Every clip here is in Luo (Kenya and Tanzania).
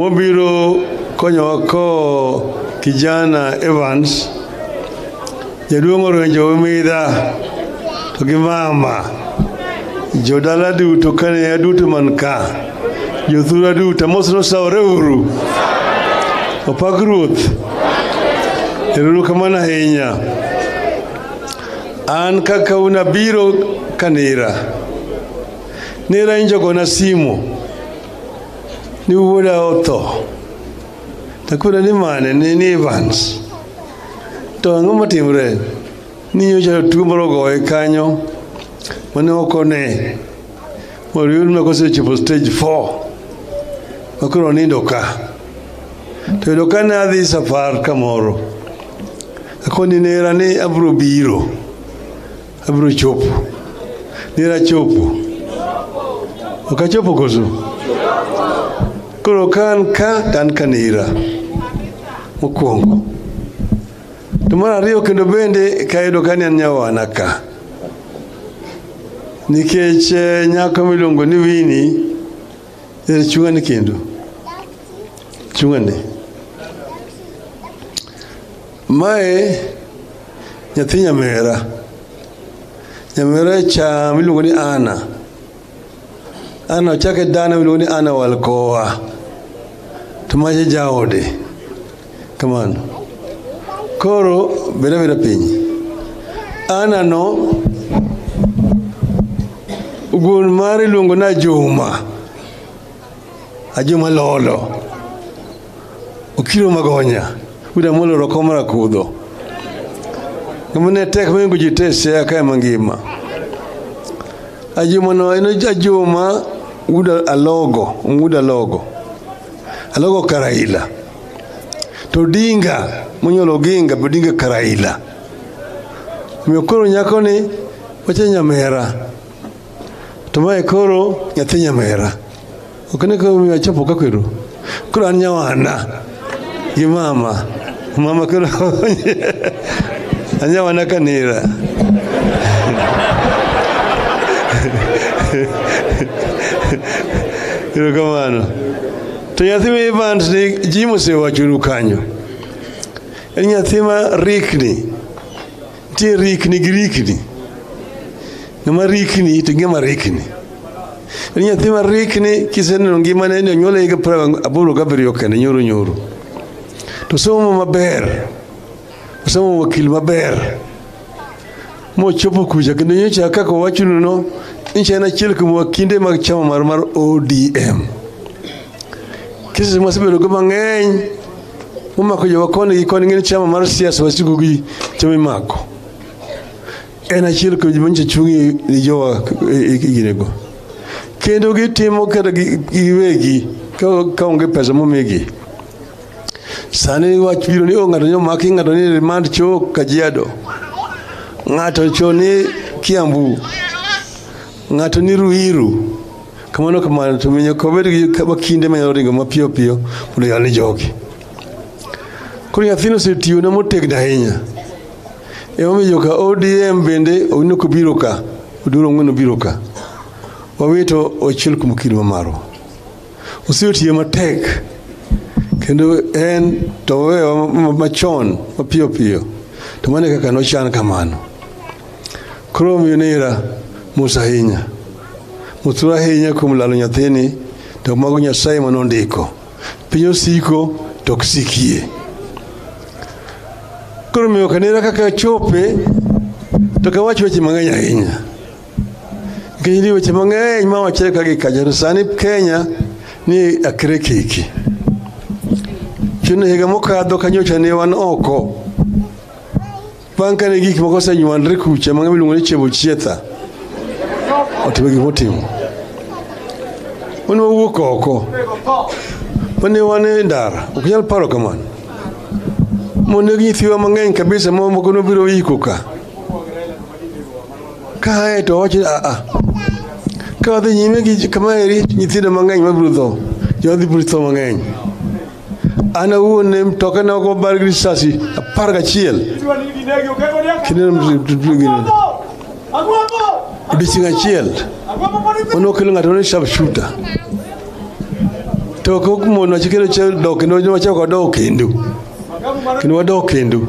Mobiro konyowa ko kijana Evans jaduong' orenjo midha to gi mama jodala duto kane aduto man ka jothura duto mos nosawore uru opak ruoth eruru kamano ahinya an kaka unabiro kanira nira injogona simo Ni wuoda otho takura ni mane ni ni Evans to ang'o matimre ni nyocha tuo moro ogoye kanyo mane okone moriyud na kosechopo stage 4 makoro onindo ka to yudo ka ne adhi safar kamoro akoni nera ni abro biro Abiro chopo. Nira chopo. Ok achopo koso? Koro ka an ka to an ka nira. Mokwongo. To mar ariyo kendo bende kayudo ka ni an nyawana ka. Nikech eh, nyako miluongo ni Winnie er chung'ani kendo. Chung'ani. Mae nyathi nyamera. Nyamera cha miluongo ni Ana. Ana ochake dana miluongo ni Ana Walkowa. To maje jaode. Kamano. Koro beda beda piny. Ana no wuon mare iluongo na Juma. Ajuma Lolo, Okiro Magonya, William Amolo Rokoma Rakudho. Ng'ama ne tek mohingo ji te Siaya kae mangima. Ajuma no en Ajuma Wuod Alogo, Wuod Alogo. Alogo Karaila. To Odinga, monyuolo Oginga, be Odinga Karaila. Omiyo koro nyakoni wacha nyamera. To mae koro nyathi nyamera. Ok ne koro miyo achopo ka kwero. Koro an nyawana gi mama. Mama koro anyawana kanira. Erokamano. To nyathi ma Evans ni ji mosewachonu kanyo. En nyathi ma rikni. Nitie rikni gi rikni. Ng'ama rikni to ng'ama rikni. En nyathi ma rikni kiseneno ngimane ni onyuole higa piero aboro gabiriyo kende nyoro nyoro. To somo maber. Osomo wakil maber. Mochopo kucha kendo nyocha kaka owachonu no nchi en achiel kuom wakinde mag chama mar mar ODM. Kisisi mwasebedogo mang'eny umako jowa koni gi koni ng'eni chama mar siasa wasigu gi chama imako en achiel kuom joma nyicha chungi ni jowa iginego kendo gitimo kata gi- giwegi ka- ka onge pesa momigi sani wach biro ni o ng'ato ni omaki ng'ato ni remand cho kajiado ng'ato cho ni kiambu Ng'ato ni Ruiru, kamano kamano, to winyo kobed gi kama kinde manyalo ringo mapiyo piyo mondo yal ni jogi. Koro nyathino osetiyona motegno ahinya. Emomiyo joka ODM bende owino kobiro ka, oduro ong'wen obiro ka. Wawito ochiel kuom kido ma marwa. Osetiyo matek kendo en to owewa ma- ma- machon mapiyo piyo to mane kaka nochan kamano Koro omiyo nera mos ahinya, motur ahinya kuom lalo nyathini, to mago Nyasaye ma nondiko. Piny osiko to ok sikie. Koro omiyo kanera kaka chope to kawach weche mang'eny ahinya nikech ni weche mang'eny ma wachre ka gi kacha to sani Kenya ni akre kiki chuno higa mokadho kanyocha ne wan oko Bang' kane gik moko osenywandre kucha ma ng'ama iluongo ni Chebo Chietha otimo gik motimo, wan wawuok oko mane wan e ndara, ok nyal paro kamano. Moneg nyithiwa mang'eny kabisa, ma moko nobiro iko ka kae to wacho a a ka wadhi nyime gi kama eri, nyithindo mang'eny mabiro tho, jodhi biro tho mang'eny. an awuon ne mtokena ok obar gi risasi apar gachiel odiechieng' achiel mano okelo ng'ato ne sharp shooter to ok mon wacho kendo che dok kendo wacho ko dok kendo kendo wadok kendo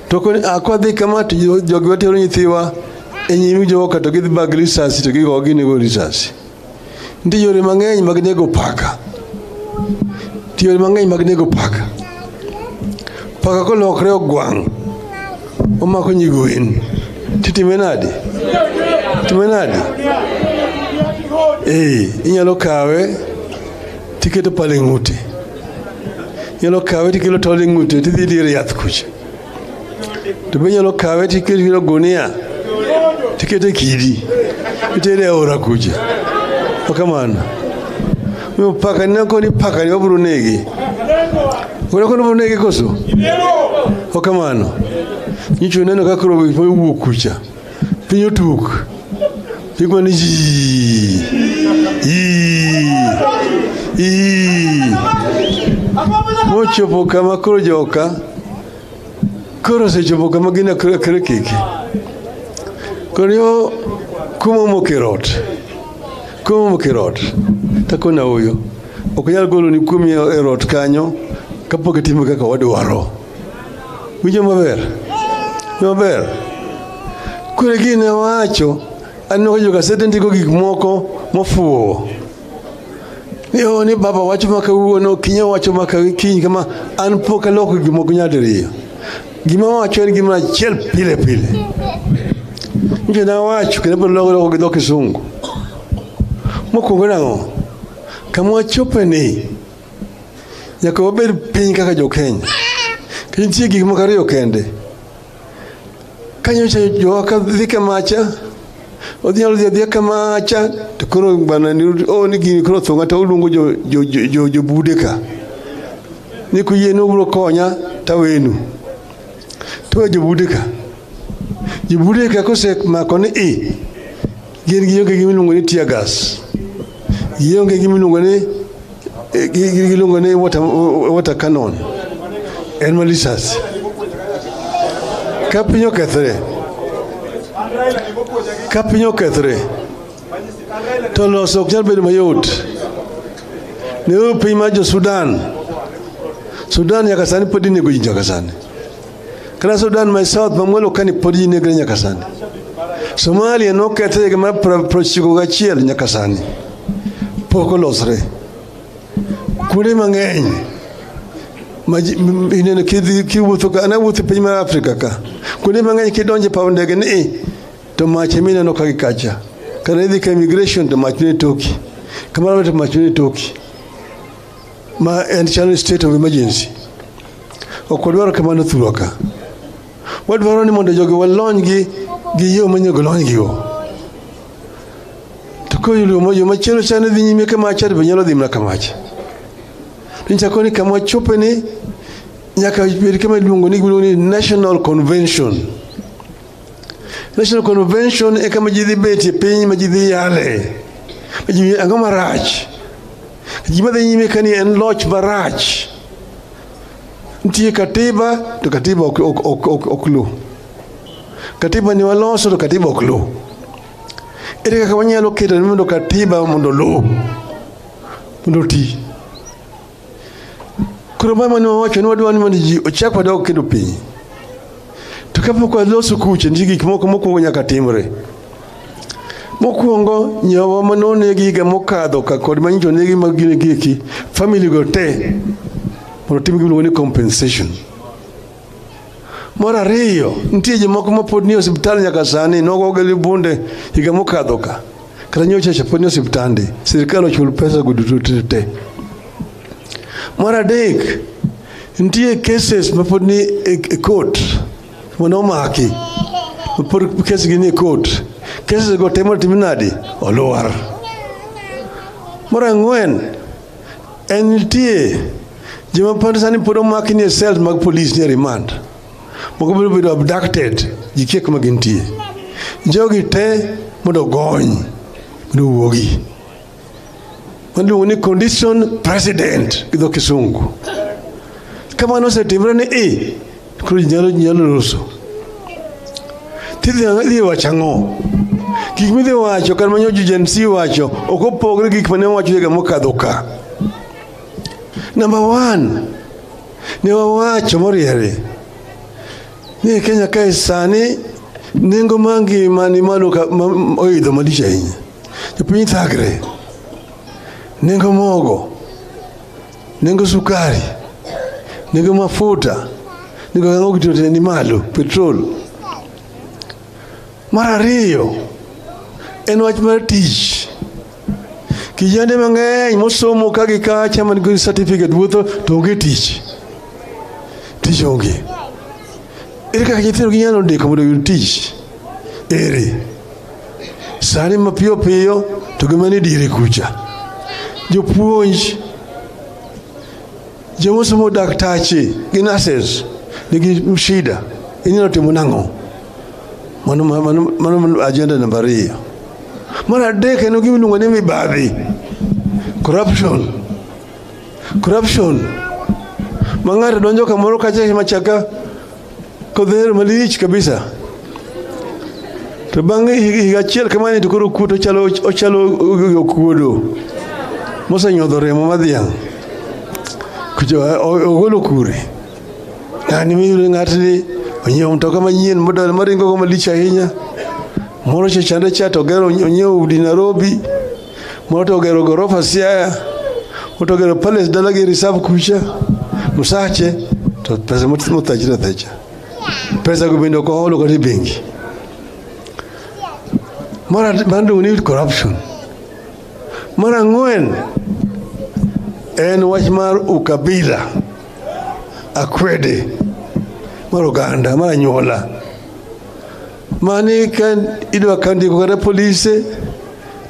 to ko akwa dhi kama to jogi watero nyithiwa e nyimi jogo ka to gidhi bag risasi to gigo ginego risasi Nitie yore mang'eny mag nego paka. Nitie yore mang'eny mag nego paka. Paka kolokre ogwang' omako nyigwen titime nade? Time nade? Ee, inyalo kawe tiketo pale ng'ute. Inyalo kawe tikelo tol e ng'ute tidhi dire yath kucha. to be nyalo kawe to ikete kiro gunia to ikete kidi itere e aora kucha okamano miyo pakani nako ni pakani wabiro negi unako ni wabiro negi koso okamano nyicho neno kakro owuok kucha piny otuk piny kwan ni yii yii yii mochopo kama koro joka koro osechopo kama gin akre akre kiki koro yo kuma mokerot kuma mokerot takona uyo ok nyal golo ni kuomi e rot kanyo kapok itimo kaka wadwaro Winjo maber? Winjo maber? Kure gini wacho aneno ka jogasede ndiko gik moko mofuwo ni o ni baba wacho ma kawuono kinya wacho ma kiny kama an pok aloko gik moko nyadiriyo gima wacho en gima achiel pile pile nje na wacho kendo pod loko loko gi dho kisungu mokwongo nang'o kama wachope ni Nyaka wabed piny kaka jo-Kenya. To nitie gik moko ariyo kende. Ka nyocha jowa ka dhi kamacha, odhi nyalo dhi adhiya kamacha, to koro bana ni o ni gini koro thonga to uluongo jo jo jo, jo, jo bude ka. Ni kuyie ni ubiro konya tawenu. To jo bude ka. Jo bude ka kosemako ni i Gin gionge gi miluongo ni tear gas. Gionge gi miluongo ni eh, gi- gi- giluongo ni water, water cannon. En ma lisasi. Ka piny okethre, ka piny okethre, to loso ok nyal bedo mayot. Ne piny mar jo Sudan. Sudan nyaka sani pod inego ji nyaka sani. Kata Sudan ma South mamwelo kani pod ji negre nyaka sani. Somalia nokethe higa mar prochiko gachiel nyaka sani pok olosre. Kuonde mang'eny ineno kiwuotho ka anawuotho piny mar Afrika ka kuonde mang'eny kidonje paw ndege ni eh, to mach ema ineno ka gikacha kata idhi ka immigration to mach ne toki kamano to mach ne toki ma en chalo state of emergency. Ok wadwaro kamano thurwa ka. Wadwaro ni mondo jogi walony gi gi yo manyago lony gigo. To ka yo yo machielo chane dhi nyime ka mach to be nyalo dhi mana ka mach. Nichako ni kama wachope ni nyaka bed kama iluongo ni giluongo ni National Convention. National Convention e kama ji dhi betie piny ma ji dhi yale. Ma ji ang'o marach Gima dhi nyime ka ni en loch marach. Nitie katiba to katiba ok, ok, ok, ok, ok luw. Katiba ni waloso to katiba ok luw. Ere kaka wanyalo keto ni mondo katiba mondo luw mondo oti? Koro mama ne wawacho ni wadwa ni mondo ji ochak wadog kendo piny. To kapok waloso kucha, nitie gik moko mokwongo nyaka timre. Mokwongo nyawa ma nonegi higa mokadho ka kod ma nyicho negi mag gine gieki family go te mondo tim gimiluongo ni compensation. Mar ariyo nitie jomoko ma pod nie osiptal nyaka sani nogogi gi bunde higa mokadho ka kata nyocha cha pod nie osiptande sirikal ochul pesa go duto te te. Mar adek nitie cases ma pod ni e, e court Mwana uma haki. Por kesi gini court. Kesi go temo timinadi. Oluar. Mora ngwen. Entie. Jema pande sani podo maki ni cells mag police ni remand. Moko biro bedo abducted. Jikie kuma gintie. Jogi te mondo gony. Mondo wuogi. Waluongo ni condition president gi dho kisungu. Ka mano osetimre ni i, koro ji nyalo ji nyalo loso. Tidhi ang- idhi wacho ang'o? Gik midhi wacho kar manyo Gen Z wacho ok opogre gi gik mane wacho higa mokadho ka. Number one, ne wawacho moriere ni Kenya kae sani nengo mar ngima ni malo ka- ma- oidho malich ahinya. Jopiny thagre, nengo mogo, nengo sukari, nengo mafuta, nengo gik moko duto ni malo, petrol. Mar ariyo en wach mar tich. Kijende mang'eny mosomo ka gi kacha man gi certificate wuotho to onge tich. Tich onge. Ere kaka nyithindo ginyalo ndiko mondo oyud tich? Ere sani mapiyo piyo to gima ni diere kucha, jopuonj jomosomo daktache gi nurses nigi shida, inyalo timo nang'o? Mano, mano, mano ajenda namba ariyo. Mar adek en gima iluongo ni mibadhi, corruption. Corruption ma ng'ato donjo kamoro kacha machaka kodhero malich kabisa to bang' higa achiel kamani to koro kuto ochalo ochalo okuodo mosenyodho remo madhiang' kucho ogolo kure ng'ani miyudo ng'atni onyiewo mtoka manyien modal maringo go malich ahinya moro chechande cha to ogero onyiewo udi Nairobi Moto ogero gorofa Siaya, moto ogero palace dala gi reserve kucha Musache to pesa mutachira thecha pesa kubinda kwa holo kati bengi mara bando we need corruption mara ngwen en wach mar ukabila akwede mar oganda mar anyuola mani ka idwa ka ndiko kata polise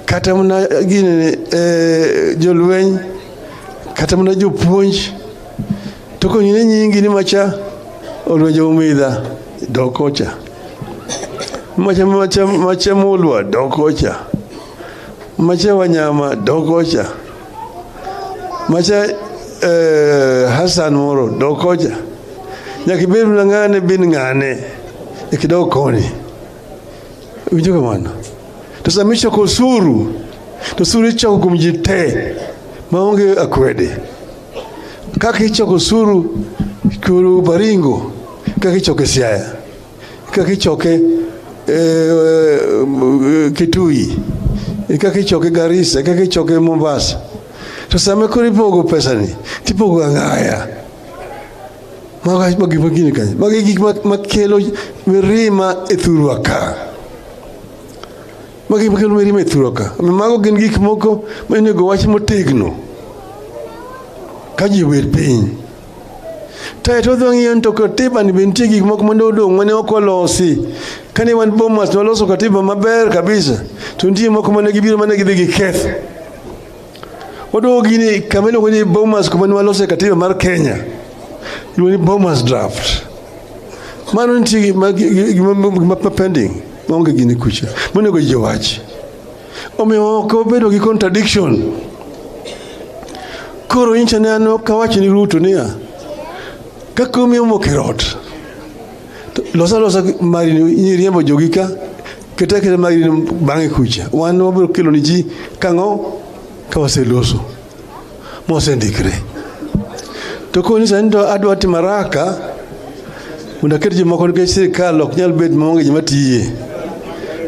kata mana gini eh, jolweny kata mana jopuonj to konyine nyingi ni macha olwenjo umidha dokocha macha macha macha mulwa dokocha macha wanyama dokocha macha eh, Hassan moro dokoja nyaka ibed na ng'ane bin ng'ane ikidog koni winjo kamano to sama ichoko osuru to osuru ichoko kuom ji te maonge akwede kaka ichoko osuru kuru baringo kaka ichoko e siaya Kaka ichoke e, e, Kitui, e, kaka ichoke Garissa, kaka ichoke Mombasa. To sama koro ipogo pesani, tipogo ang'aya. Mago gik magin gini kanyo. Mago gik makelo mirima e thurwa ka. Mago gik makelo mirima e thurwa ka. Mago gin gik moko ma onego wach motegno ka ji obet piny. Tae to odhi ng'iyo ni to katiba ni be nitie gik moko mane odong' mane ok olosi. Kane wan Bomas ne waloso katiba maber kabisa to nitie moko mane gibiro mane gidhi giketho. Waduogo gini kama iluongo ni Bomas kuma ne walose katiba mar Kenya. Iluongo ni Bomas draft. Mano nitie gima gima pending maonge gini kucha. Monego ji owachi. Omiyo ok obedo gi contradiction. Koro incha ne an ok awach ni Ruto niya kaka omiyo mok e rot to losa losa mari nyiriembo jogi ka keta keta mari bang'e kucha wan wabiro kelo ni ji kang'o ka waseloso. mosendikre. To koni sani to adwa timo haraka mondo aket jomoko nikech sirikal ok nyal bet maonge joma tiye.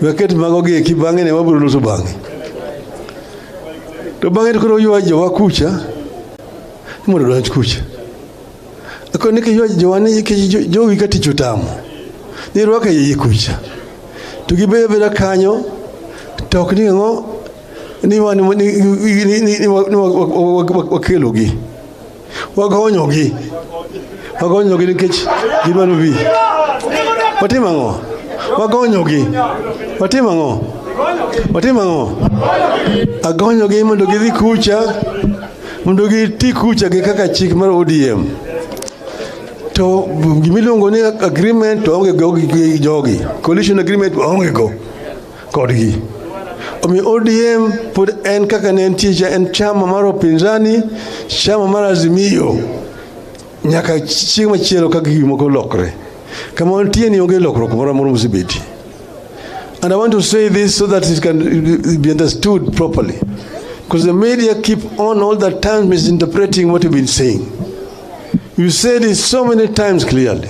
We aket mago gi eki bang'e ne wabiro loso bang'e. To bang'e to koro ywa jowa kucha ni mondo odonj kucha. Koro ni kiywa jowa ni ki- jo- jowi ka tich otamo ni rwaka iye kucha to gibedo abeda kanyo to ok ni ang'o ni wa- ni- ni- ni- ni- ni- ni wa- ni wa- wa- wa- wa- wakelogi wagonyogi wagonyogi nikech gidwaro bi watim ang'o wagonyogi watim ang'o watim ang'o agonyogi mondo gidhi kucha mondo giti kucha gi kaka chik mar odm to gimiluongo ni agreement to onge go gi jogi coalition agreement onge go kodgi. Omiyo ODM pod en kaka ne entie cha en chama mar opinzani, chama mar Azimio nyaka chieng' machielo ka gik moko lokre. Kama wantie ni onge lokruok moro amora mosebeti. And I want to say this so that it can be understood properly. Because the media keep on all the time misinterpreting what you've been saying. You said it so many times clearly.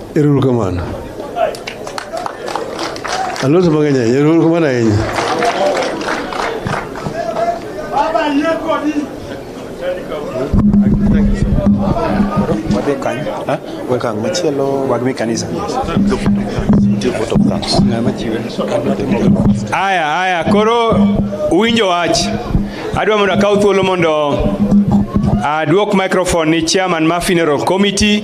Erouru kamano. Alos mang'eny ahinya. Erouru kamano ahinya. Wadhi kanye? Okang' machielo. Wag mi kanisa. Aya, aya, koro uwinjo wach. Adwa mondo akaw thuolo mondo adwok microphone ni chairman ma funeral committee